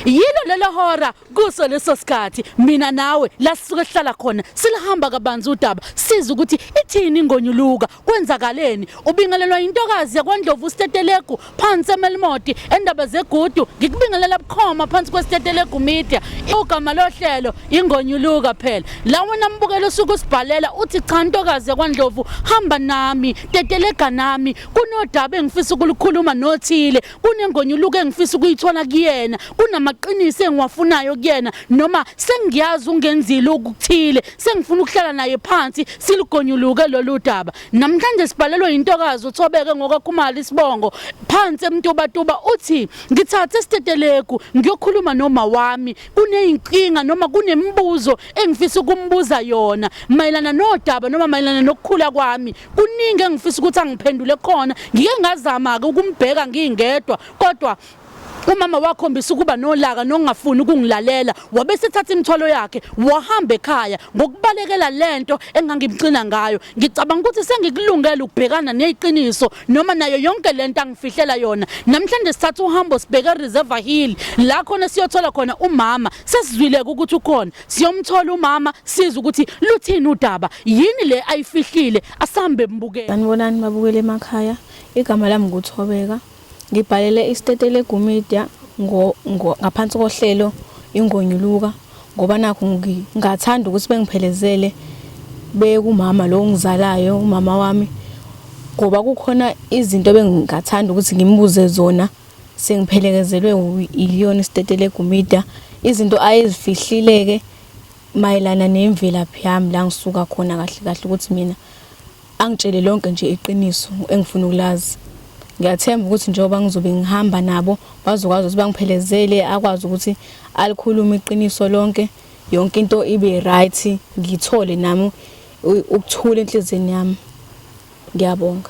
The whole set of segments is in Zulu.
yilo lelo hora kuso leso sikhathi mina nawe la sisuke sihlala khona silihamba kabanzi udaba siza ukuthi ithini ingonyuluka kwenzakaleni ubingelelwa intokazi yakwandlovu ustetelegu phansi emelimoti endaba zegudu ngikubingelela bukhoma phansi kwestetelegu media igama lohlelo ingonyuluka phela la wena mbukelo usuke usibhalela uthi cha ntokazi yakwandlovu hamba nami tetelega nami kunodaba engifisa ukulukhuluma nothile kunengonyuluko engifisa ukuyithola kuyena kunamaqiniso engiwafunayo kuyena noma sengiyazi ungenzile ukuthile sengifuna ukuhlala naye phansi silugonyuluke lolu daba namhlanje sibhalelwe yintokazi uthobeke ngokakhumali isibongo phansi emtubatuba uthi ngithathe isitetelegu ngiyokhuluma noma wami kuneyinkinga noma kunemibuzo engifisa ukumbuza yona mayelana nodaba noma mayelana nokukhula kwami kuningi engifisa ukuthi angiphendule kona ngike ngazama ke ukumbheka ngingedwa kodwa umama wakhombisa ukuba nolaka nongafuni ukungilalela wabe sethatha imithwalo yakhe wahamba ekhaya ngokubalekela lento engangimxina ngayo ngicabanga ukuthi sengikulungele ukubhekana neziqiniso noma nayo yonke lento angifihlela yona namhlanje sithatha uhambo sibheke reserve hill la khona siyothola khona umama sesizwileke ukuthi ukhona siyomthola umama siza ukuthi luthini udaba yini le ayifihlile asambe mbukele sanibonani mabukele emakhaya igama lami nguthobeka ngibhalele isitete legumedia ngo ngaphansi kohlelo ingonyuluka ngoba nakho ngingathanda ukuthi bengiphelezele bekumama lo ngizalayo umama wami ngoba kukhona izinto bengingathanda ukuthi ngimbuze zona sengiphelekezelwe uyiyona isitetele egumida izinto ayezifihlileke mayelana nemvelaphi yami la ngisuka khona kahle kahle ukuthi mina angitshele lonke nje iqiniso engifuna ukulazi ngiyathemba ukuthi njengoba ngizobe ngihamba nabo bazokwazi ukuthi bangiphelezele akwazi ukuthi alikhulume iqiniso lonke yonke into ibe right ngithole nami ukuthula enhlizweni yami ngiyabonga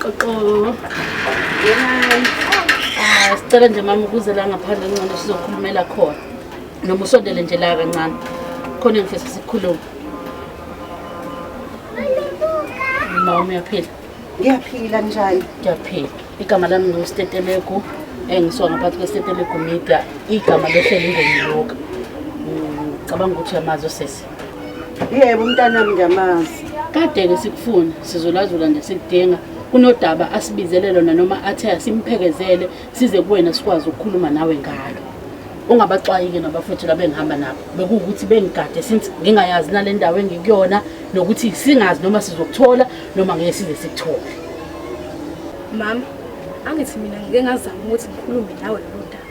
Xoxo. Hi. Ah, sicela nje mama ukuze la ngaphandle ngcono sizokhulumela khona. Noma usondele nje la kancane. Khona ngifisa sikhulume. Mama uyaphila. ngiyaphila njani ngiyaphila igama lami ngustetelegu engisuka ngaphansi kwestetelegu media igama lohleli ngomloka ngicabanga ukuthi uyamazi osesi yebo umntanami ngiyamazi kade-ke sikufuna sizolazula nje sikudinga kunodaba asibizele lona noma athe asimphekezele size kuwena sikwazi ukukhuluma nawe ngalo ungabaxwayike nabafowethu labengihamba nabo bekuwukuthi bengigade since ngingayazi nale ndawo engikuyona nokuthi singazi noma sizokuthola noma ngeke size sikuthole mama angithi mina ngike ngazama ukuthi ngikhulume nawe lolu daba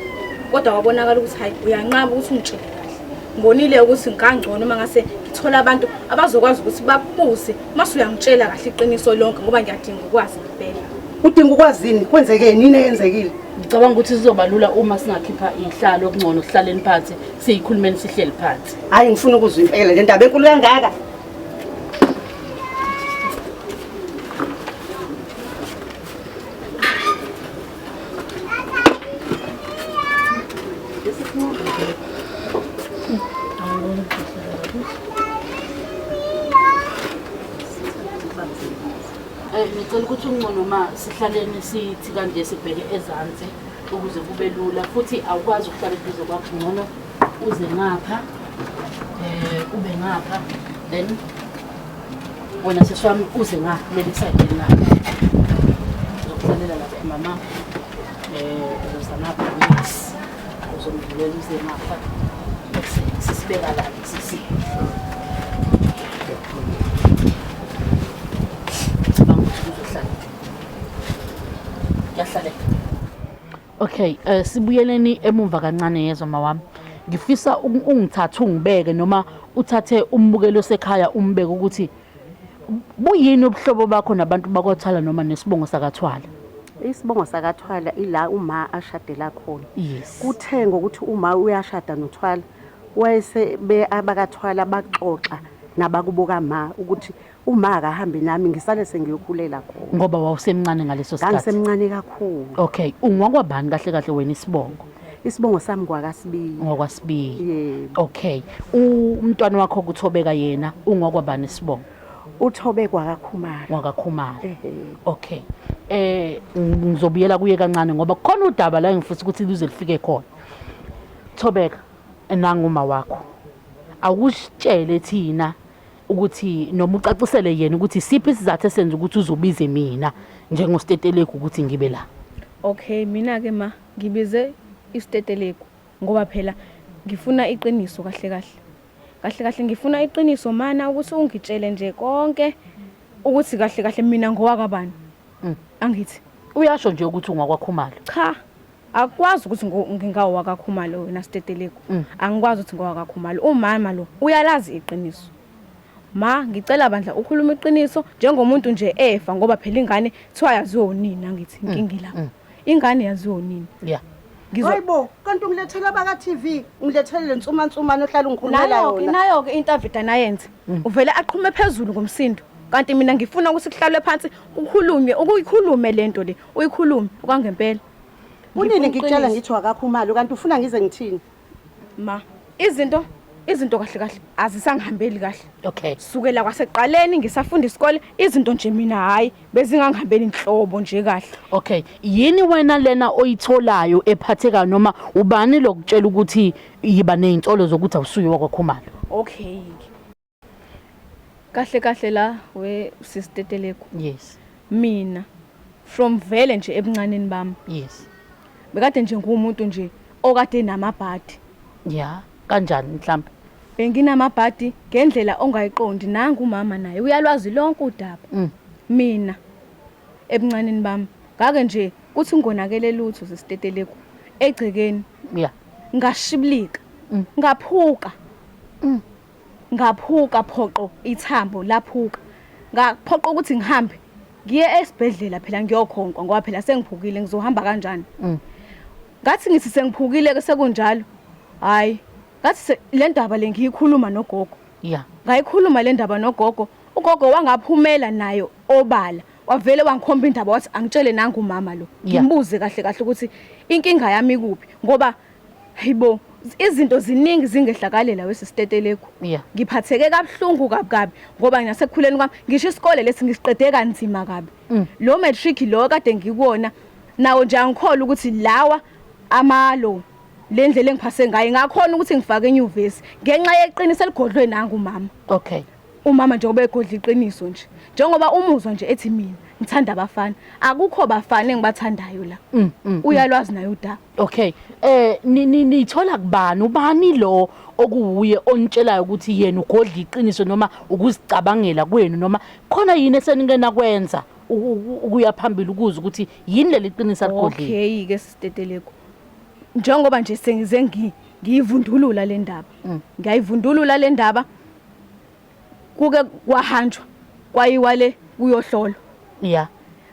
kodwa wabonakala ukuthi hayi uyanqaba ukuthi ungitshele kahle ngibonile ukuthi ngikangcono uma ngase ngithola abantu abazokwazi ukuthi bakubuze uma suyangitshela kahle iqiniso lonke ngoba ngiyadinga ukwazi ngempela udinga ukwazini kwenzekeni yini eyenzekile ngicabanga ukuthi sizoba lula uma singakhipha inhlalo okungcono sihlaleni phansi siyikhulumeni sihleli phansi hhayi ngifuna ukuzwa impela le ndaba enkulu kangaka ngicela ukuthi uncono uma sihlaleni sithi kanje sibheke ezansi ukuze kube lula futhi awukwazi ukuhlala eduze kwakho ngcono uze ngapha eh ube ngapha then wena sisi wami uze ngapha leli side la uzokuzalela lapha mama eh uzoza ngapha mix uzomvulela uze ngapha sisibeka la sisi Cabanga ukuthi uzohlala. Kuyahlala. Okay, uh, sibuyeleni emumva kancane yezwa mawami. Ngifisa ungithathe ungibeke noma uthathe umbukelo sekhaya umbeke ukuthi buyini ubuhlobo bakho nabantu bakwathwala noma nesibongo sakathwala. Isibongo sakathwala ila uma ashadela khona. Yes. Kuthe ngokuthi uma uyashada nothwala wayese be abakathwala baxoxa nabakubo kama ukuthi uma akahambi nami ngisale sengiyokhulela khona ngoba wawusemncane ngaleso sikhathi ngangisemncane kakhulu okay ungwakwabani kahle kahle wena isibongo isibongo sami kwakasibiyi ngokwasibiyi yebo okay umntwana wakho kuthobeka yena ungwakwabani isibongo uthobe kwakakhumalo kwakakhumalo okay eh ngizobuyela kuye kancane ngoba kukhona udaba la engifisa ukuthi lize lifike khona thobeka nanguma wakho awusitshele thina ukuthi noma ucacisele yena ukuthi siphi isizathu esenza ukuthi uzobize mina njengostetelegu ukuthi ngibe la okay mina-ke ma ngibize isitetelegu ngoba phela ngifuna iqiniso kahle kahle kahle kahle ngifuna iqiniso mana ukuthi ungitshele nje konke ukuthi kahle kahle mina ngowakabani mm. angithi uyasho nje ukuthi ungwakwakhumalo cha akukwazi ukuthi ngingawo wakakhumalo wena stetelegu mm. angikwazi ukuthi ngowakakhumalo umama lo uyalazi iqiniso ma ngicela bandla ukhuluma iqiniso njengomuntu nje efa ngoba phela ingane thiwa yaziwe unini angithi mm, inkingi la mm. ingane yaziwe unini yeah Hayibo kanti ungilethela baka TV ungilethele lensuma nsuma nohlala ungikhulumela yona Nayo ke nayo ke interview anayenze uvele aqhume phezulu ngomsindo kanti mina ngifuna ukuthi kuhlalwe phansi kukhulunywe ukuyikhulume lento le Uyikhulume kwangempela. Unini ngikutshela ngithi wakakho umali kanti ufuna ngize ngithini? Ma, izinto izinto kahle kahle azisangihambeli kahle. Okay. Sukela kwaseqaleni ngisafunda isikole izinto nje mina hayi bezingangihambeli inhlobo nje kahle. Okay. Yini wena lena oyitholayo ephatheka noma ubani lokutshela ukuthi yiba nezinsolo zokuthi awusuye wakwakhumalo? Okay. kahle kahle la we sisteteleko yes mina from vele nje ebuncaneni bami yes bekade nje ngumuntu nje okade namabhadi ya kanjani mhlawumbe benginamabhadi ngendlela ongayiqondi nangu umama naye uyalwazi lonke udaba mm. mina ebuncaneni bami ngake nje kuthi ngonakele lutho sesiteteleko egcekeni ya ngashibilika mm. ngaphuka mm. Ngaphuka phoqo ithambo laphuka ngaphoqa ukuthi ngihambe ngiye esibhedlela phela ngiyokhonkwa ngoba phela sengiphukile ngizohamba kanjani mm. ngathi ngithi sengiphukile ke sekunjalo hayi ngathi le ndaba le ngiyikhuluma nogogo ya ngayikhuluma le ndaba nogogo ugogo wangaphumela nayo obala wavele wangikhomba indaba wathi angitshele nangu mama lo ngimbuze kahle kahle ukuthi inkinga yami kuphi ngoba Hayibo, izinto ziningi zingehlakale la wesisitetelegu. Yeah. Ngiphatheke kabuhlungu kabi kabi ngoba nginasekukhuleni kwami ngisho isikole lesi ngisiqede kanzima kabi. Mm. Lo matric lo kade ngikuwona nawo nje angikholwa ukuthi lawa amalo le ndlela engiphase ngayo ngakhona ukuthi ngifake enyuvesi ngenxa yeqiniso eligodlwe nangu mama. Okay. Umama njengoba egodla iqiniso nje. Njengoba umuzwa nje ethi mina ngithanda abafana. Akukho bafana engibathandayo la. Mm, mm, mm. Uyalwazi naye udaba. Okay. Eh ni- ni- nithola kubani ubani lo okuwuye onitshelayo ukuthi yena ugodla iqiniso noma ukuzicabangela kwenu noma khona yini esenikena kwenza uku- uku- ukuya phambili ukuze ukuthi yini leli qiniso aligodlile. Okay ke siteteleko. Njengoba nje sengize ngi ngiyivundulula le ndaba. Ngiyayivundulula le ndaba kuke kwahanjwa kwayiwa le kuyohlolwa yeah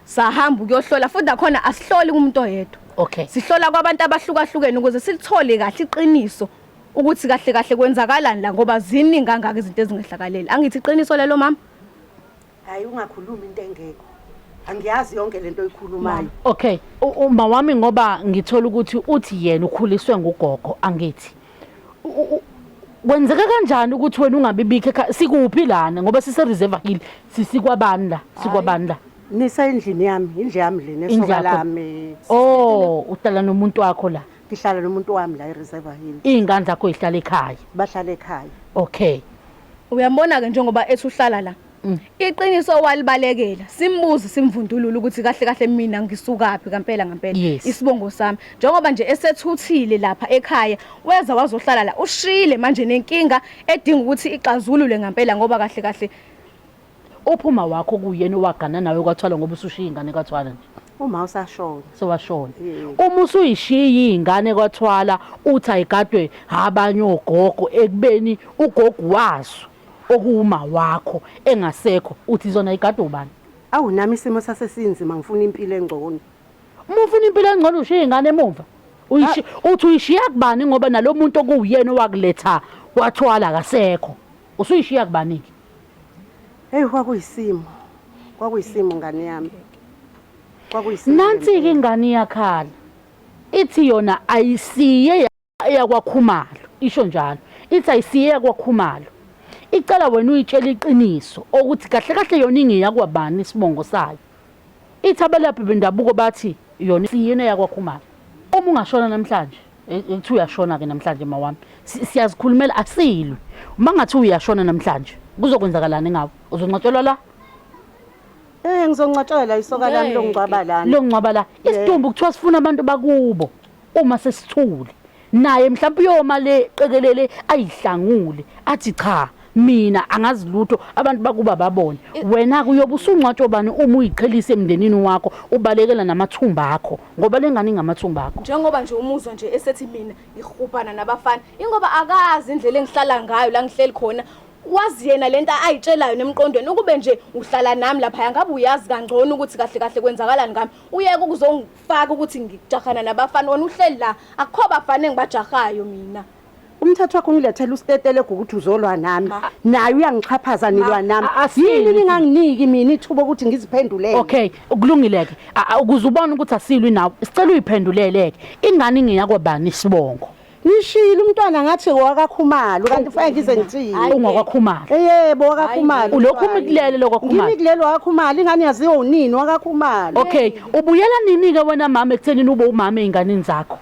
sahamba ukuyohlola futhi nakhona asihloli kumuntu oyedwa okay sihlola kwabantu abahlukahlukene ukuze silithole kahle iqiniso ukuthi kahle kahle kwenzakalani la ngoba ziningi kangaka izinto ezingehlakalele angithi iqiniso lelo mama Hayi ungakhulumi into engekho. Angiyazi yonke lento oyikhulumayo. Okay, u- uma wami ngoba ngithola ukuthi uthi yena ukhuliswe ngugogo angithi. U- u- u- Kwenzeka kanjani ukuthi wena ungabibikho ekhaya? Sikuphi lana ngoba sise reserve hill sisikwabani la? Sikwabani la? Nisa endlini yami, indlu yami lena Indlu esoka yakho. lami. Oh, uhlala nomuntu wakho la. Ngihlala nomuntu wami la eReserve Hill. Izingane zakho zihlala ekhaya. Bahlala ekhaya. Okay. Uyambona-ke njengoba ethi uhlala la. Mm. Iqiniso walibalekela simbuze simvundulula ukuthi kahle kahle mina ngisukaphi kampela ngampela yes. isibongo sami njengoba nje esethuthile lapha ekhaya weza wazohlala la ushile manje nenkinga edinga ukuthi ixazulule ngampela ngoba kahle kahle Uphi umawakho okuyena owagana nawe kwaThwala ngoba usushiya ingane kaThwala nje? Uma usashona. Sewashona. Yebo. Uma usuyishiya iy'ngane kwaThwala uthi ayigadwe abanye ogogo ekubeni ugogo wazo okuwumawakho engasekho uthi zona yigadwe ubani? Awu nami isimo sase sinzima ngifuna impilo engcono. Uma ufuna impilo engcono ushiya iy'ngane emumva. Uyishi uthi uyishiya kubani ngoba nalo muntu okuwuyena owakuletha kwaThwala akasekho. Usuyishiya kubani-ke? Hey kwakuyisimo. Kwakuyisimo ngane yami. Kwakuyisimo. Nansi ke ingane iyakhala. Ithi yona ayisiye eyakwakhumalo isho njalo. Ithi ayisiye eyakwakhumalo. Icela wena uyitshela iqiniso ukuthi kahle kahle yona ingeyakwa bani isibongo sayo. Ithi abelaphi bendabuko bathi yona isiyini eyakwaKhumalo. Uma ungashona namhlanje, eh, kuthiwa uyashona-ke namhlanje mawami. Si- Siyazikhulumela asilwi. Uma ngathiwa uyashona namhlanje, kuzokwenzakalani ngawe? Uzoncwatshelwa la? Eh ngizongcwatshelwa la isoka lami Ngeke. longcwaba lana. Longcwaba la. Isidumbu kuthiwa sifuna abantu bakubo uma sesithule. naye mhlawumbe uyoma le qekelele ayihlangule athi cha mina angazi lutho abantu bakuba babone wena kuyobe usungcwatshwa bani uma uyiqhelisa emndenini wakho ubalekela namathumba akho ngoba lengane ingamathumba akho njengoba nje umuzwa nje esethi mina ngihubhana nabafana ingoba akazi indlela engihlala ngayo la ngihleli khona wazi yena lento ayitshelayo nemqondweni ukube nje uhlala nami lapha ngabe uyazi kangcono ukuthi kahle kahle kwenzakalani ngami uyeke ukuzongi kufaka ukuthi ngijahana nabafana wena uhleli la akukho bafana engibajahayo mina umthetho wakho ngilethela usitetele ukuthi uzolwa nami naye uyangixhaphaza nilwa nami yini ninganginiki mina ithuba ukuthi ngiziphendulele okay kulungileke ukuze ubone ukuthi asilwi nawe sicela uyiphenduleleke ingane ingeyakobani isibongo Ngishilo umntwana ngathi wakakhumalo kanti fanele ngize ngithini. Hayi, Ungokwakhumalo. Eh, Yebo wakakhumalo. Ulokhu umkulele lokwakhumalo. Ngimi kulelo wakakhumalo ingane yaziwa unini wakakhumalo. Okay, ubuyela nini ke wena mama ekuthenini ube umama ezinganeni zakho?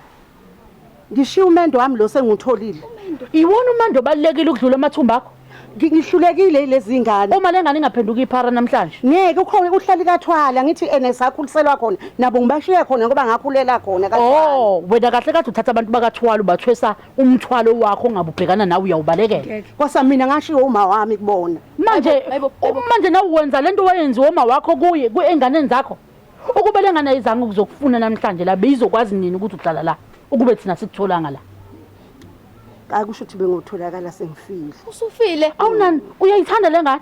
Ngishiya umendo wami lo sengutholile. Iwona umando obalekile ukudlula amathumba akho. ngihlulekile ilezi ingane uma lengane ingaphenduka iphara namhlanje ngeke ukhona uhlali kathwala ngithi ene sakhuliselwa khona nabo ngibashiye khona ngoba ngakhulela khona kathwala oh wena kahle kade uthatha abantu bakathwala ubathwesa umthwalo wakho ongabe ubhekana nawe uyawubalekela kwasa mina ngashiwo uma wami kubona manje manje nawe wenza lento wayenziwa uma wakho kuye kuenganeni zakho ukube lengane ayizange ukuzokufuna namhlanje la beyizokwazi nini ukuthi uhlala la ukube thina sikutholanga la Hayi kusho ukuthi bengotholakala sengifile. Usufile? Awunani uyayithanda lengane?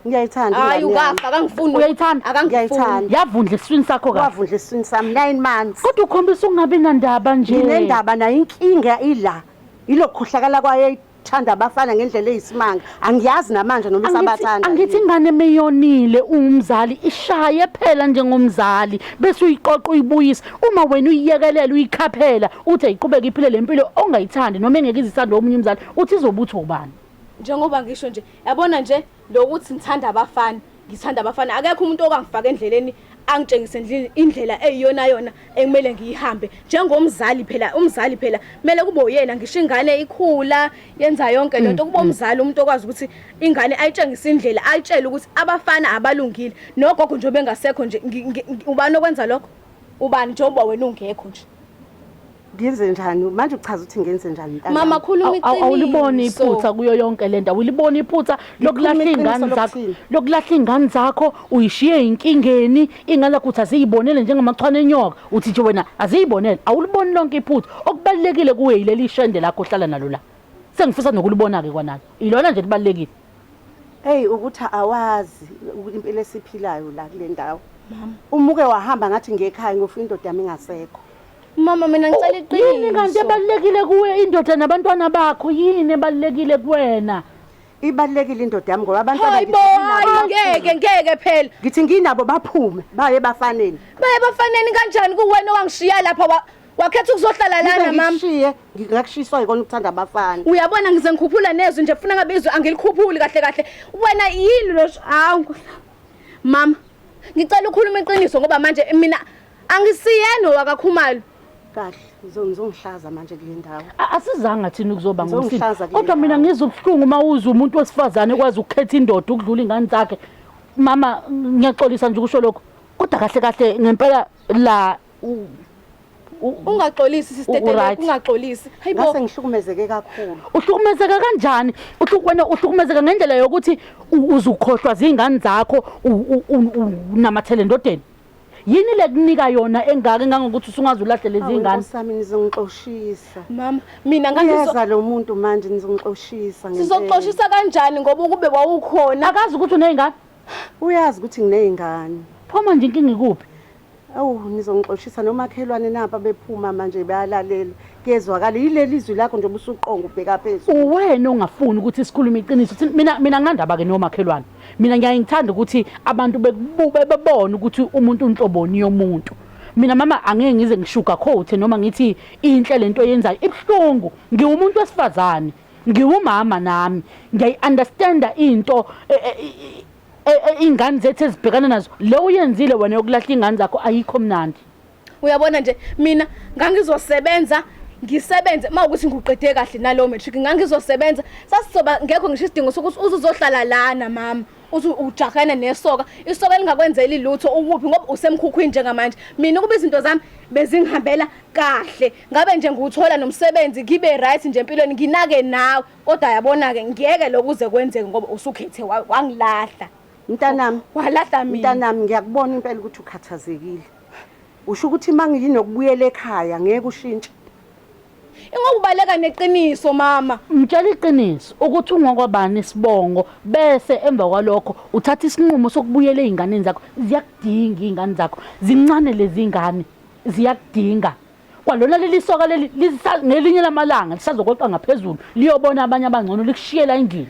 Ngiyayithanda. Hayi ukafa akangifuni. Uyayithanda? Akangifuni. Yavundla esiswini sakho kahle. Wavundla esiswini sami 9 months. Kodwa ukhombisa ukungabi nandaba nje. Nginendaba nayo inkinga ila. Ilokukhohlakala kwayo ithanda abafana ngendlela eyisimanga. angiyazi namanje noma usabathanda angithi ingane meyonile umzali ishaye phela njengomzali bese uyiqoqa uyibuyisa uma wena uyiyekelela uyikhaphela uthi ayiqhubeke iphile lempilo ongayithandi noma engeke izithande omunye umzali uthi izobutho ubani njengoba ngisho nje yabona nje lokuthi ngithanda abafana ngithanda abafana akekho umuntu okangifaka endleleni angitshengise ndlini indlela eyiyona yona ekumele ngiyihambe njengomzali phela umzali phela kumele kube uyena ngisho ingane ikhula yenza yonke lento mm, kuba mm. umzali umuntu okwazi ukuthi ingane ayitshengise indlela ayitshele ukuthi abafana abalungile nogogo nje bengasekho nje ubani okwenza lokho ubani njengoba wena ungekho nje ngenze njani manje uchaza ukuthi ngenze njani mntana mama khuluma iqiniso awuliboni iphutha kuyo yonke lento awuliboni iphutha lokulahla ingane zakho lokulahla ingane zakho uyishiye inkingeni ingane ukuthi aziyibonele njengamachwana enyoka uthi nje wena aziyibonele awuliboni lonke iphutha okubalekile kuwe yileli shende lakho ohlala nalo la sengifisa nokulibona ke kwanalo ilona nje libalekile hey ukuthi awazi impilo esiphilayo la kule ndawo mama umuke wahamba ngathi ngekhaya ngofuna indoda yami ingasekho Mama mina ngicela iqiniso. Oh, yini kanti ebalekile kuwe indoda nabantwana bakho yini ebalekile kuwena? Ibalekile indoda yami ngoba abantu abakithi ngeke ngeke phela. Ngithi nginabo baphume baye bafaneni. Baye bafaneni kanjani kuwena owangishiya lapha wakhetha ukuzohlala lana mama ngishiye ngingakushiswa yikona ukuthanda abafana uyabona ngize ngikhuphula nezwi nje funa ngabizwe angilikhuphuli kahle kahle wena yini lo hawu mama ngicela ukhuluma iqiniso ngoba manje mina Angisiyena owakaKhumalo. Kahle, uzongihlaza manje kule ndawo. Asizanga thina ukuzoba ngomsini. Kodwa mina ngizwe ubuhlungu uma uzwa umuntu wesifazane kwazi ukukhetha indoda ukudlula ingane zakhe. Mama ngiyaxolisa nje ukusho lokho. Kodwa kahle kahle ngempela la ungaxolisi sisteteleka ungaxolisi hayibo ngase ngihlukumezeke kakhulu uhlukumezeka kanjani uhlukwena uhlukumezeka ngendlela yokuthi uzukhohlwa zingane zakho unamathele ndodeni Yini le kunika yona engaka engangokuthi usungaze ulahle lezi ngane? Sami nizongixoshisa. Mama, mina ngangizwa lo muntu manje nizongixoshisa ngempela. Sizoxoshisa kanjani ngoba ukube wawukhona? Akazi ukuthi unezingane. Uyazi ukuthi nginezingane. Pho manje inkinga ikuphi? Awu nizongixoshisa nomakhelwane napa bephuma manje bayalalela. Kuyezwakala yileli izwi lakho nje ubusuqonga ubheka phezulu. Uwena ongafuni ukuthi sikhulume iqiniso. Mina mina nginandaba ke nomakhelwane. mina ngiyaye ngithanda ukuthi abantu bekubube bebone ukuthi umuntu unhloboni yomuntu mina mama angeke ngize ngishuga coat noma ngithi inhle lento yenzayo ibuhlungu ngiwumuntu wesifazane ngiwumama nami ngiyayi understanda into e, e, e, ingane zethu ezibhekana nazo le uyenzile wena yokulahla ingane zakho ayikho mnandi uyabona nje mina ngangizosebenza ngisebenze uma ukuthi ngiqede kahle nalowo matric ngangizosebenza sasizoba ngekho ngisho isidingo sokuthi uzuzohlala lana mama uthi ujahana nesoka isoka elingakwenzeli lutho ukuphi ngoba usemkhukhwini njengamanje mina ukuba izinto zami bezingihambela kahle ngabe nje ngiwuthola nomsebenzi ngibe right nje empilweni nginake nawe kodwa yabona-ke ngiyeke lokuze kwenzeke ngoba usukhethe wangilahla mntanami walahla mina mntanami ngiyakubona impela ukuthi ukhathazekile Usho ukuthi mangiyinokubuyela ekhaya ngeke ushintshe. Ingoba ubaleka neqiniso mama. Mtshela iqiniso ukuthi ungokwabani isibongo bese emva kwalokho uthatha isinqumo sokubuyela ezinganeni zakho. Ziyakudinga izingane zakho. Zincane lezi ngane. Ziyakudinga. Kwalona leli soka leli ngelinye lamalanga lisazokweqa ngaphezulu liyobona abanye abangcono likushiyela indlela.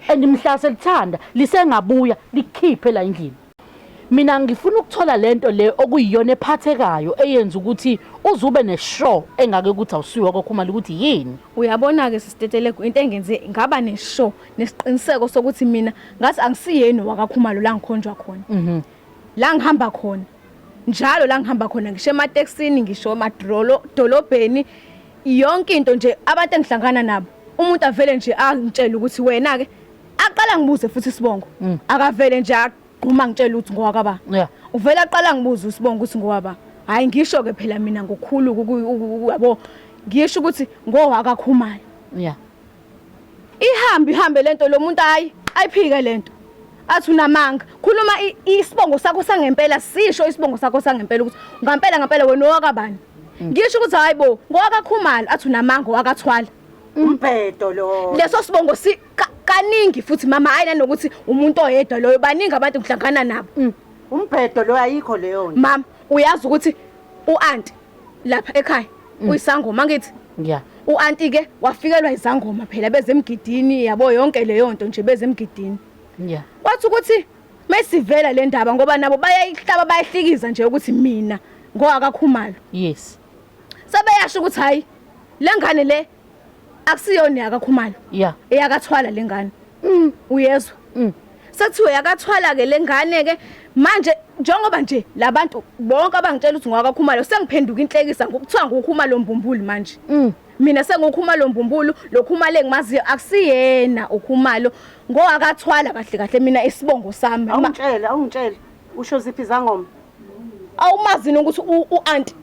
and mhla selithanda lisengabuya likhiphe la endlini mina ngifuna ukuthola lento le okuyiyona ephathekayo eyenza ukuthi uzube neshow engake ukuthi awusiwa kokho uma ukuthi yini uyabona ke sisitetelego into engenze ngaba neshow nesiqiniseko sokuthi mina ngathi angisiyeni wakakhumalo la ngikhonjwa khona mhm la ngihamba khona njalo la ngihamba khona ngisho emateksini ngisho emadrolo dolobheni yonke into nje abantu engihlangana nabo umuntu avele nje angitshele ukuthi wena ke aqala ngibuze futhi isibongo mm. akavele nje agquma ngitshela ukuthi ngowaka ba uvele aqala ngibuze usibongo ukuthi ngowaba hayi ngisho ke phela mina ngokhulu yabo ngisho ukuthi ngowaka khumalo yeah Ihambi hambe lento lo muntu ayi ayiphike lento. Athi unamanga. Khuluma i- isibongo sakho sangempela sisho isibongo sakho sangempela ukuthi ngampela ngampela wena owakabani. Ngisho ukuthi hayibo ngowakakhumalo athi unamanga owakathwala. umbhedo lo Leso sibongo si ka- kaningi futhi mama hayi nanokuthi umuntu oyedwa loyo baningi abantu ngihlangana nabo. umbhedo lo ayikho leyo nto mama uyazi ukuthi uanti lapha ekhaya mm. uyisangoma ngithi yeah uanti ke wafikelwa izangoma phela bezemgidini yabo yonke leyo nto nje bezemgidini yeah wathi ukuthi mesivela le ndaba ngoba nabo bayayihlaba bayahlikiza nje ukuthi mina ngoakakhumalo yes sebeyasho ukuthi hayi lengane le akusiyona yakakhumalo yeah. eyakathwala le ngane mm. uyezwa mm. sekuthiwe yakathwala-ke le ngane-ke manje njengoba nje labantu bonke abangitshela ukuthi ngwakakhumalo sengiphenduka inhlekisa ngokuthiwa ngukhumalo mbumbuli manje mm. mina sengukhumalo mbumbulu lokhumalo engimaziyo akusiyena ukhumalo ngowakathwala kahle kahle mina isibongo sami awungitshele awungitshele usho ziphi izangoma awumazini ukuthi u-anti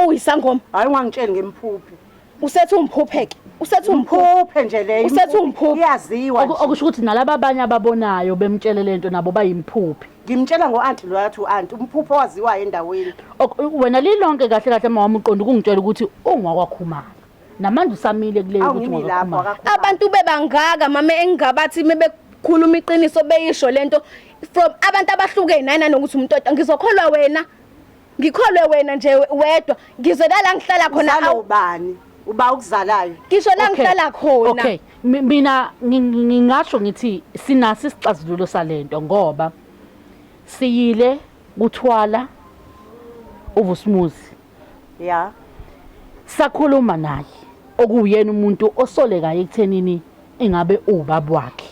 uyisangoma hayi ungangitsheli ngimphuphe usethi umphupheke usethi umphuphe nje leyo usethi umphuphe iyaziwa okusho ukuthi nalaba abanye ababonayo bemtshele lento nabo bayimphuphe ngimtshela ngo-anti loyo athi u-anti umphuphe owaziwayo endaweni wena lilonke kahle kahle uma wami uqonda ukungitshela ukuthi ungwakwakhumana namanje usamile kuleyo ukuthi ungwakwakhumana abantu bebangaka mama engingabathi uma bekhuluma iqiniso beyisho lento from abantu abahlukene nanokuthi umuntu ngizokholwa wena ngikholwe wena nje wedwa ngizwe kala ngihlala khona Uzalwa awu ubani uba okuzalayo ngisho la Okay. ngihlala khona Okay, mi- mina ngi- ngi- ngingasho ngithi sinasi isixazululo salento ngoba siyile kuthwala uVusmuzi ya sakhuluma naye okuyena umuntu osolekayo ekuthenini ingabe ubaba wakhe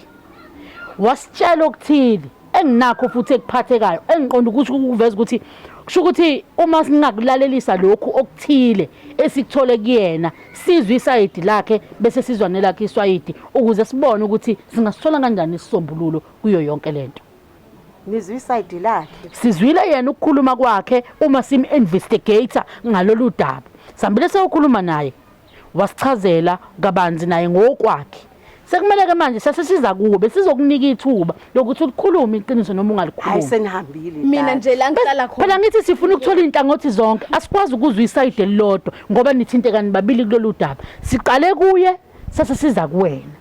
wasitshela okuthile enginakho futhi ekuphathekayo engiqonda ukuthi ukuveza ukuthi kusho ukuthi uma singakulalelisa lokhu okuthile esikuthole kuyena sizwe isayidi lakhe bese sizwa nelakhe iswayidi ukuze sibone ukuthi singasithola kanjani isisombululo kuyo yonke lento nizwe isayidi lakhe sizwile yena ukukhuluma kwakhe uma sim investigator ngalolu daba sambile sewukhuluma naye wasichazela kabanzi naye ngokwakhe sekumele ke manje sesisiza kuwe besizokunika ithuba lokuthi ulikhulume iqiniso noma hayi ungalikhulumi senihambile mina nje la ngihlala khona phela ngithi sifuna ukuthola izinhlangothi zonke asikwazi ukuzwa isayide elilodwa ngoba nithintekani babili kulolu daba siqale kuye sesisiza kuwena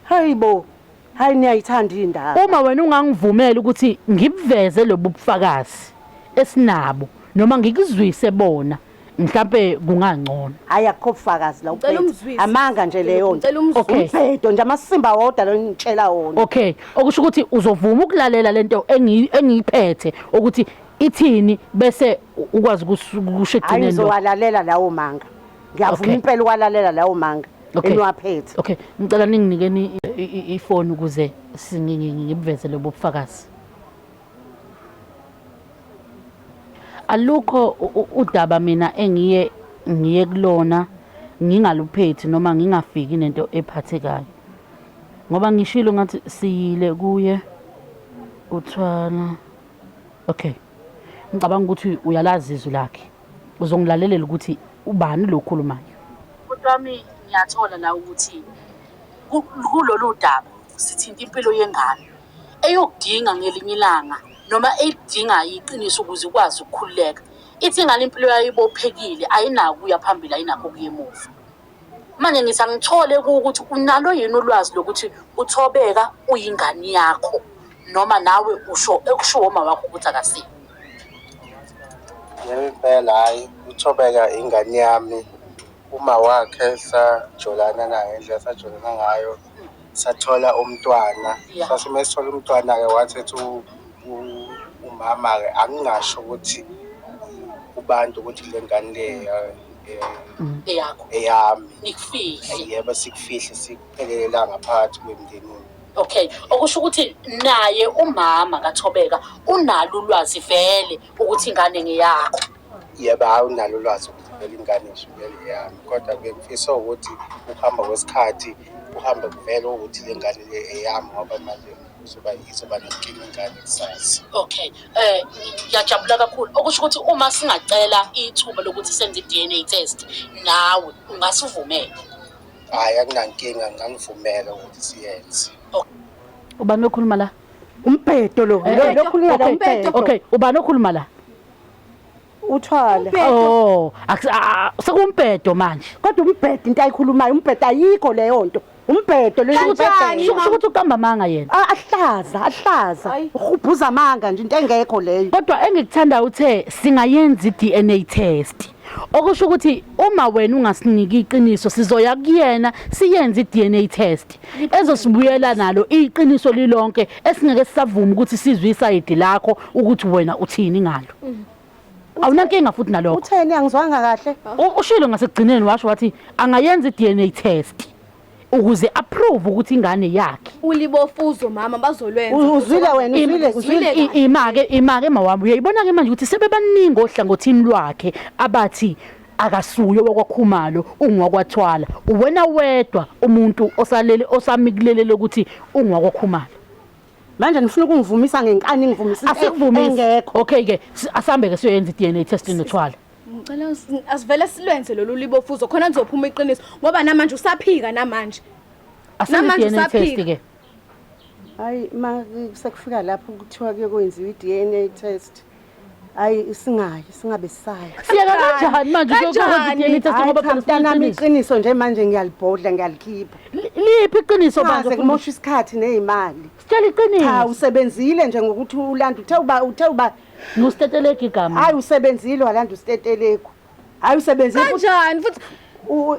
hayi bo Hayi niyayithanda indaba. Uma wena ungangivumela ukuthi ngibuveze lobu bufakazi esinabo noma ngikuzwise bona mhlampe kungangcono. Hayi akukho bufakazi la Ngicela ubhedo. umzwise. Amanga nje leyo nto. Ngicela umzwise. Okay. Ubhedo nje amasimba wodwa lo ngitshela wona. Okay, okusho ukuthi uzovuma ukulalela lento engi- engiyiphethe ukuthi ithini bese u- ukwazi ukusho Hayi ekugcineni. lo. ngizowalalela lawo manga. Ngiyavuma Okay. impela ukwalalela lawo manga. Okay. eniwaphethe Okay, ngicela ninginikeni i- i- i- ifoni ukuze si- ngi- ngi- ngibuveze lobo bufakazi. Alukho u- u- udaba mina engiye ngiye kulona ngingaluphethi noma ngingafiki nento ephathekayo. Ngoba ngishilo ngathi siyile kuye uthwala. Okay. Ngicabanga ukuthi uyalazi izwi lakhe. uzongilalelela ukuthi ubani lo okhulumayo bhuti wami ngiyathola la ukuthi kulolu daba sithinta impilo yengane eyokudinga ngelinye ilanga noma elidingayo iqiniso ukuze ikwazi ukukhululeka ithi ngale impilo yayo ibophekile ayinako ukuya phambili ayinakho ukuya emuva Manje ngithi angithole kuwo ukuthi unalo yini ulwazi lokuthi uThobeka uyingane yakho noma nawe usho ekushiwo uma wakho ukuthi akasiyo. Yebo impela hhayi uThobeka ingane yami, uma wakhe sajolana naye ngendlela esajolana ngayo. sathola umntwana sase uma sithola umntwana-ke wathetha umama-ke angingasho ukuthi kubantu ukuthi le ngane le eyakho eyami nikufihle yebo sikufihle sikuphelele ngaphakathi kwemndenini okay okusho ukuthi naye umama kathobeka unalo ulwazi vele ukuthi ingane ngeyakho yebo hayi unalo ulwazi ukuvumela ingane ishukela yami kodwa bengifisa ukuthi ukuhamba kwesikhathi kuhambe kuvele ukuthi le ngane le eyami ngoba manje uzoba izoba nenkinga ingane kusazi okay eh ngiyajabula kakhulu okusho ukuthi uma singacela ithuba lokuthi senze i-dna test nawe ungasivumela hhayi akunankinga ngangivumela ukuthi siyenze ubani okhuluma la umbhedo lo Eh, lo- eh, lokhulumela okay, umbhedo okay ubani okhuluma la uthwala oh sekumbhedo manje kodwa umbhedo into ayikhulumayo umbhedo ayikho leyo nto umbhedo loyokuthi uqamba amanga yena ah, ahlaza ahlaza uhubhuza amanga nje into engekho leyo kodwa engikuthandayo uthe singayenza i-d n a test okusho ukuthi uma wena ungasiniki iqiniso sizoya kuyena siyenze i-DNA test ezosibuyela nalo iqiniso lilonke esingeke sisavuma ukuthi sizwe isayidi lakho ukuthi wena uthini ngalo mm. awunankinga futhi nalokho utheni angizwanga kahle ushilo ngasekugcineni washo wathi angayenza i-DNA test ukuze approve ukuthi ingane yakhe ulibofuzo mama bazolwenza uzwile wena uzwile uzwile imake imake mawami uyayibona ke manje ukuthi sebebaningi ohlangothini lwakhe abathi akasuye wakwakhumalo ungwakwathwala uwena wedwa umuntu osalele osamikulelele ukuthi ungwakwakhumalo manje nifuna ukungivumisa ngenkani ngivumisile engekho okay ke asambe ke siyoyenza i-DNA test nothwala Ngicela asivele silwenze lolu libofuzo khona nizophuma iqiniso ngoba namanje usaphika namanje. Namanje usaphika ke. Hayi ma sekufika lapho kuthiwa ke kwenziwa iDNA test. Hayi singayi singabe sayi. Siyeka kanjani manje ukwenza iDNA test ngoba phela mntanami iqiniso nje manje ngiyalibhodla ngiyalikhipha. Liphi iqiniso manje kumosha isikhathi nezimali. Sitshela iqiniso. Cha usebenzile nje ngokuthi ulanda uthe uba uthe uba ngustetelegu igama hayi usebenzile walanda ustetelegu hayi usebenzile kanjani futhi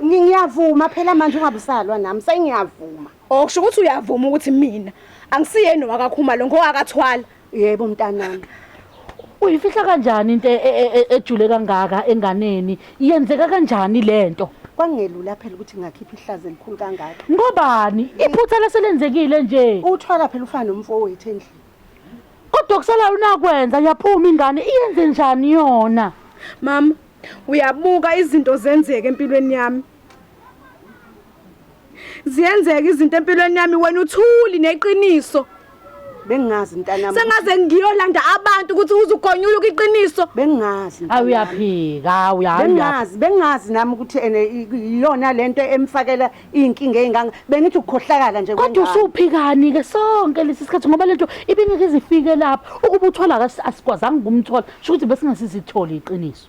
ngiyavuma phela manje ungabusalwa nami sengiyavuma okusho ukuthi uyavuma ukuthi mina angisiyeni wakakhuma lo ngowakathwala yebo mntanami uyifihla kanjani into e- e- e- ejule kangaka enganeni yenzeka kanjani lento kwangelula phela ukuthi ngakhipha ihlazo elikhulu kangaka ngobani iphutha laselenzekile nje uthwala phela ufana nomfowethu endlini kodwa kusalayo unakwenza yaphuma ingane iyenze njani yona mama uyabuka izinto zenzeke empilweni yami ziyenzeka izinto empilweni yami wena uthuli neqiniso bengingazi mntanami sengaze ngiyolanda abantu ukuthi uzugonyula iqiniso bengingazi awuyaphika uyaphika bengingazi bengingazi nami ukuthi ene iyona lento emfakela iy'nkinga ey'nganga bengithi ukukhohlakala nje kodwa kwengane. usuphikani-ke sonke lesi sikhathi ngoba lento ibingeke ize ifike lapha ukuba uthola kasi- asikwazanga ukumthola sho ukuthi besingasizitholi iqiniso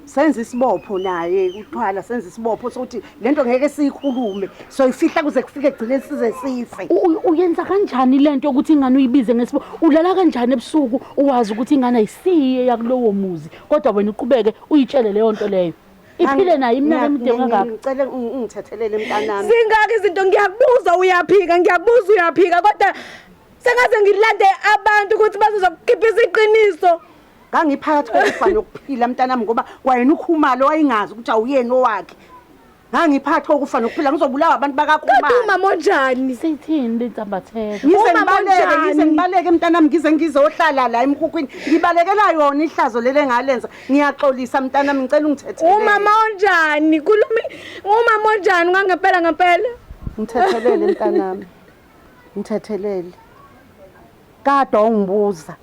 senza isibopho naye uthwala senza isibopho sokuthi le nto ngeke siyikhulume soyifihla kuze kufike egcine size sife U- u- uyenza kanjani le nto yokuthi ingane uyibize ngesibo ulala kanjani ebusuku uwazi ukuthi ingane ayisiye yakulowo muzi kodwa wena uqhubeke uyitshele leyo nto leyo iphile nayo iminyaka emide kangaka ngicela ungithethelele mntanami zingaki izinto ngiyakubuza uyaphika ngiyakubuza uyaphika kodwa sengaze ngilande abantu ukuthi bazozokukhiphisa iqiniso ngangiphakathi kokufa nokuphila mntanami ngoba kwayena ukhumalo wayingazi ukuthi awuyeni owakhe ngangiphakathi kokufa nokuphila ngizobulawa abantu bakakhumalo umama onjani sithini lentambatheka ngize ngibaleke ngize ngibaleke mntanami ngize ngizohlala la emkhukhwini ngibalekela yona ihlazo lele ngalenza Ngiyaxolisa mntanami ngicela ungithethelele. Umama onjani? Kulumi umama onjani ngangempela ngempela? Ngithethelele mntanami. Ngithethelele. Kade ungibuza.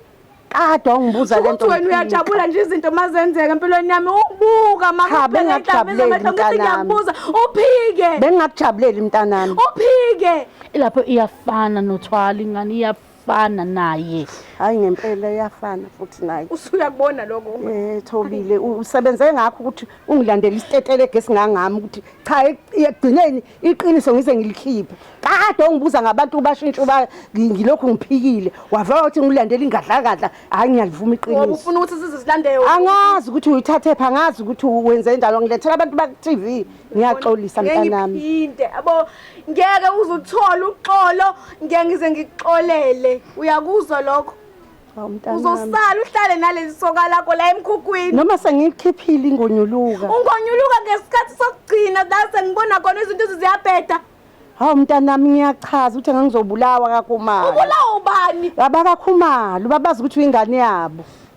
Kade ungibuza lento. Uthi wena uyajabula nje izinto mazenzeka empilweni yami. Ubuka makubheka ihlabisa amehlo ngithi ngiyakubuza. Uphike. Bengingakujabuleli mntanami. Uphike. Ilapho iyafana nothwala ingane iyafana. iyafana naye hayi ngempela iyafana futhi naye usuyakubona lokho eh thobile usebenze ngakho ukuthi ungilandele isitetele egesi ngangami ukuthi cha ekugcineni iqiniso ngise ngilikhiphe kade ongibuza ngabantu bashintsha uba ngilokhu ngiphikile wavela ukuthi ngilandele ingadlakadla hayi ngiyalivuma iqiniso ngoba ufuna ukuthi size silandele angazi ukuthi uyithathe pha angazi ukuthi wenze njalo ngilethela abantu baku TV ngiyaxolisa mntanami ngiyipinte abo ngeke uze uthole uxolo ngeke ngize ngikuxolele uyakuzwa lokho uzosala uhlale naleli soka lakho la emkhukhwini noma sengikhiphile ingonyuluka ungonyuluka ngesikhathi sokugcina la sengibona khona izinto ziyabheda hawu mntanami ngiyachaza ukuthi ngangizobulawa kakhumalo ubulawa ubani abakakhumalo babazi ukuthi uyingane yabo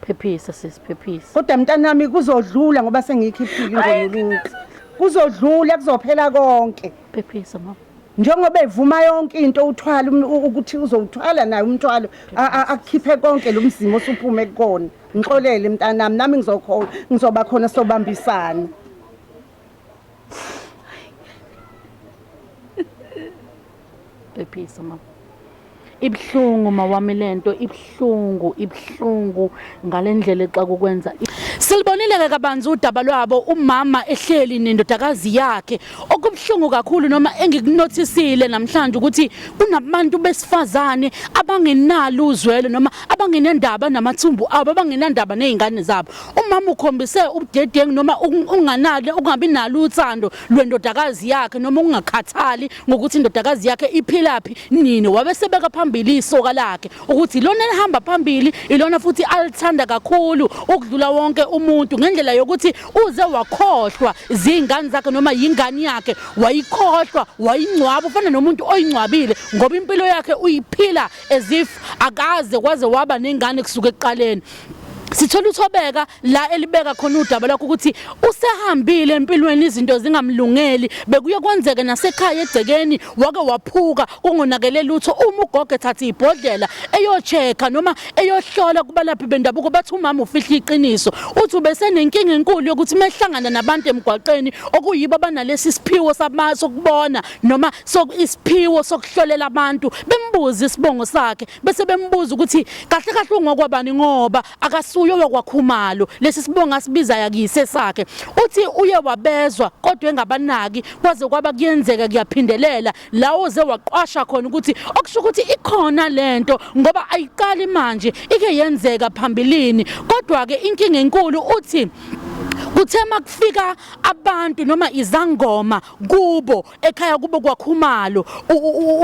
Phephisa sisi phephisa. Kodwa mntanami kuzodlula ngoba sengiyikhiphile ingonyuluthi. Kuzodlula kuzophela konke. Phephisa mama. Njengoba evuma yonke into uthwala um- u- ukuthi uzowuthwala naye umthwalo a- a- akukhiphe konke lo mzimo osuphume kukona. Ngixolele mntanami nami ngizokhona ngizoba khona sobambisana. Phephisa mama. Ibuhlungu mawami lento ibuhlungu ibuhlungu ngalendlela exa kukwenza. Silibonile ke kabanzi udaba lwabo umama ehleli nendodakazi yakhe. Okubuhlungu kakhulu noma engikunothisile namhlanje ukuthi kunabantu besifazane abangenalo uzwelo noma abangenendaba namathumbu abo abangenandaba nezingane zabo. Umama ukhombise ubudedengu noma unganalo ungabi nalo uthando lwendodakazi yakhe noma ungakhathali ngokuthi indodakazi yakhe iphilaphi nini wabesebeka phambili isoka lakhe ukuthi ilona elihamba phambili ilona futhi alithanda kakhulu ukudlula wonke umuntu ngendlela yokuthi uze wakhohlwa zingane zakhe noma yingane yakhe wayikhohlwa wayingcwaba ufana nomuntu oyingcwabile ngoba impilo yakhe uyiphila as if akaze kwaze waba nengane kusuka ekuqaleni sithola uthobeka la elibeka khona udaba lakho ukuthi usehambile empilweni izinto zingamlungeli bekuye kwenzeke nasekhaya egcekeni wake waphuka kungonakele lutho uma ugogo ethatha ibhodlela eyocheka noma eyohlola kubalaphi bendabuko bathi umama ufihla iqiniso uthi ubesenenkinga enkulu yokuthi mehlangana nabantu emgwaqeni okuyibo abanalesi siphiwo samaso kubona noma isiphiwo sokuhlolela abantu bembuza isibongo sakhe bese bembuza ukuthi kahle kahle ungokwabani ngoba akasuyo yokwakhumalo lesi sibonga sibiza yakise sakhe uthi uye wabezwa kodwa engabanaki kwaze kwaba kuyenzeka kuyaphindelela lawo ze waqwasha khona ukuthi okusho ukuthi ikhona lento ngoba ayiqali manje ike yenzeka phambilini kodwa ke inkinga enkulu uthi kuthe makufika abantu noma izangoma kubo ekhaya kubo kwakhumalo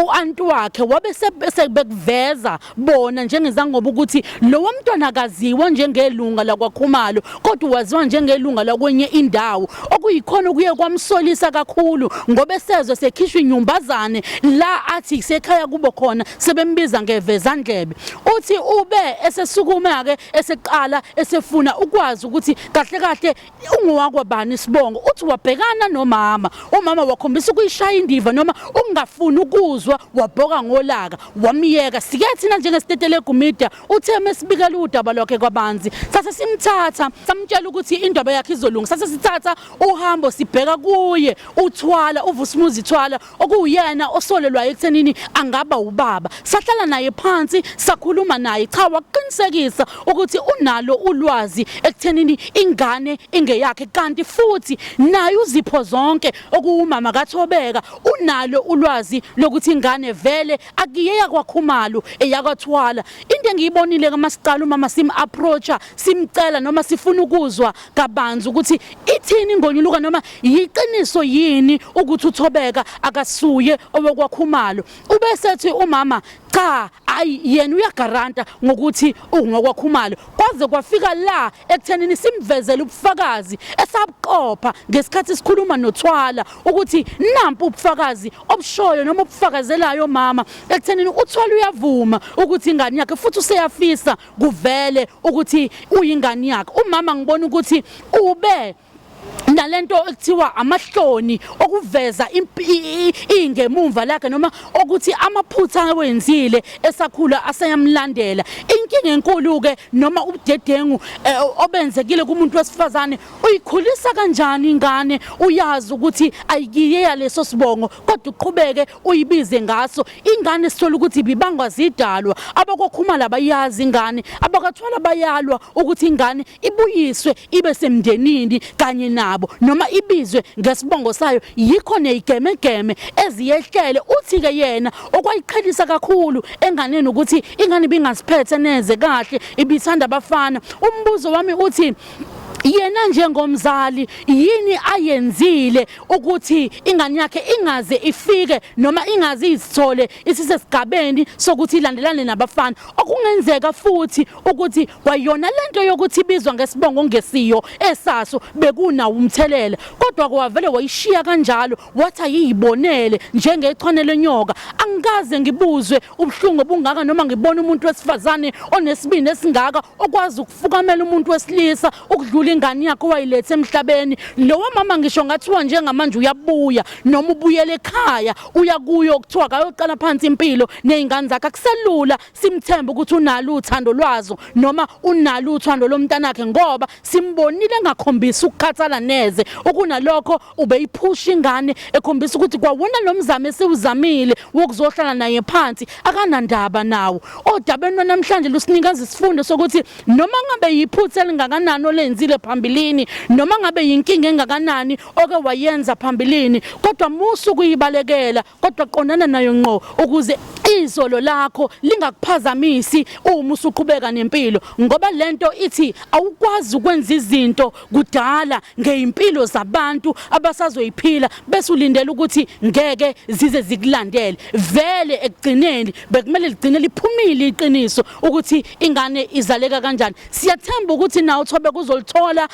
uanti wakhe wabe sebekuveza bona njengezangoba ukuthi lowo mntwana akaziwa njengelunga lakwakhumalo kodwa waziwa njengelunga lakwenye indawo okuyikhona okuye kwamsolisa kakhulu ngoba esezwe sekhishwa inyumbazane la athi sekhaya kubo khona sebembiza ngevezandlebe uthi ube esesukuma ke eseqala esefuna ukwazi ukuthi kahle kahle ungowakwabani isibongo uthi wabhekana nomama umama wakhombisa ukuyishaya indiva noma ukungafuni ukuzwa wabhoka ngolaka wamyeka sike thina njengestetele gumida uthe mesibikela udaba lwakhe kwabanzi sase simthatha samtshela ukuthi indaba yakhe izolunga sase sithatha uhambo sibheka kuye uthwala uvusumuzi thwala okuwuyena osolelwayo ekuthenini angaba ubaba sahlala naye phansi sakhuluma naye cha waqinisekisa ukuthi unalo ulwazi ekuthenini ingane ingeyakhe kanti futhi naye uzipho zonke okuwumama kaThobeka unalo ulwazi lokuthi ingane vele akiyeka kwakhumalo eyakwathwala into engiyibonile kama siqala umama sim approacha simcela noma sifuna ukuzwa kabanzi ukuthi ithini ingonyuluka noma yiqiniso yini ukuthi uthobeka akasuye owokwakhumalo ubesethi umama cha ayi yena uyagaranta ngokuthi ungokwakhumalo kwaze kwafika la ekuthenini simvezele ubufakazi esabuqopha ngesikhathi sikhuluma nothwala ukuthi nampu ubufakazi obushoyo noma obufakazelayo mama ekuthenini uthwala uyavuma ukuthi ingane yakhe futhi useyafisa kuvele ukuthi uyingane yakhe umama ngibona ukuthi ube nalento ekuthiwa amahloni okuveza ingemumva lakhe noma okuthi amaphutha awenzile esakhula aseyamlandela inkinga enkulu ke noma ubudedengu eh, obenzekile kumuntu wesifazane uyikhulisa kanjani ingane uyazi ukuthi ayikiye yaleso sibongo kodwa uqhubeke uyibize ngaso ingane sithola ukuthi ibibangwa zidalwa abakokhumala bayazi ingane abakathwala bayalwa ukuthi ingane ibuyiswe ibe semndenini kanye nabo noma ibizwe ngesibongo sayo yikho neyigemegeme eziyehlele uthi ke yena okwayiqhelisa kakhulu enganeni ukuthi ingane ibingasiphethe neze kahle ibithanda abafana umbuzo wami uthi yena njengomzali yini ayenzile ukuthi ingane yakhe ingaze ifike noma ingaze izithole isisesigabeni sokuthi ilandelane nabafana okungenzeka futhi ukuthi kwayona lento yokuthi ibizwa ngesibongo ngesiyo esaso bekuna umthelela kodwa kwavele wayishiya kanjalo wathi ayiyibonele njengechwane lenyoka angikaze ngibuzwe ubuhlungu obungaka noma ngibona umuntu wesifazane onesibindi esingaka okwazi ukufukamela umuntu wesilisa ukudlula ingane yakhe owayilethe emhlabeni lowo mama ngisho ngathiwa njengamanje uyabuya noma ubuyele ekhaya uya kuyo kuthiwa kayoqala phansi impilo nezingane zakhe akuselula simthembe ukuthi unalo uthando lwazo noma unalo uthando lomntanakhe ngoba simbonile engakhombisi ukukhathala neze okunalokho ubeyiphusha ingane ekhombisa ukuthi kwawona lo mzamo esiwuzamile wokuzohlala naye phansi akanandaba nawo odabeni lwanamhlanje lusinikeza isifundo sokuthi noma ngabe yiphutha elingakanani olenzile phambilini noma ngabe yinkinga engakanani oke wayenza phambilini kodwa musu kuyibalekela kodwa qondana nayo ngqo ukuze izolo lakho lingakuphazamisi uma usuqhubeka nempilo ngoba lento ithi awukwazi ukwenza izinto kudala ngeimpilo zabantu abasazoyiphila bese ulindela ukuthi ngeke zize zikulandele vele ekugcineni bekumele ligcine liphumile iqiniso ukuthi ingane izaleka kanjani siyathemba ukuthi nawe uthobe kuzolithola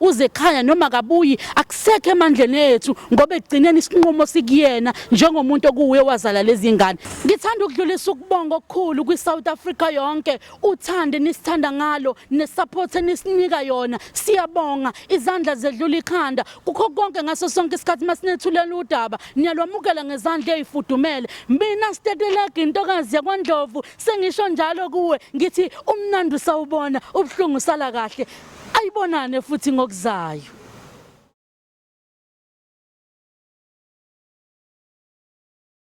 uzekhaya noma kabuyi akusekho emandleni ethu ngoba egcineni isinqumo sikuyena njengomuntu okuwe wazala lezi ngane ngithanda ukudlulisa ukubonga okukhulu kwi-south africa yonke uthande nisithanda ngalo nesupport enisinika yona siyabonga izandla zedlula ikhanda kukho konke ngaso sonke isikhathi masinethulela udaba niyalwamukela ngezandla ezifudumele mina stetelege intokazi yakwandlovu sengisho njalo kuwe ngithi umnandi usawubona ubuhlungu sala kahle Ayibonane futhi ngokuzayo.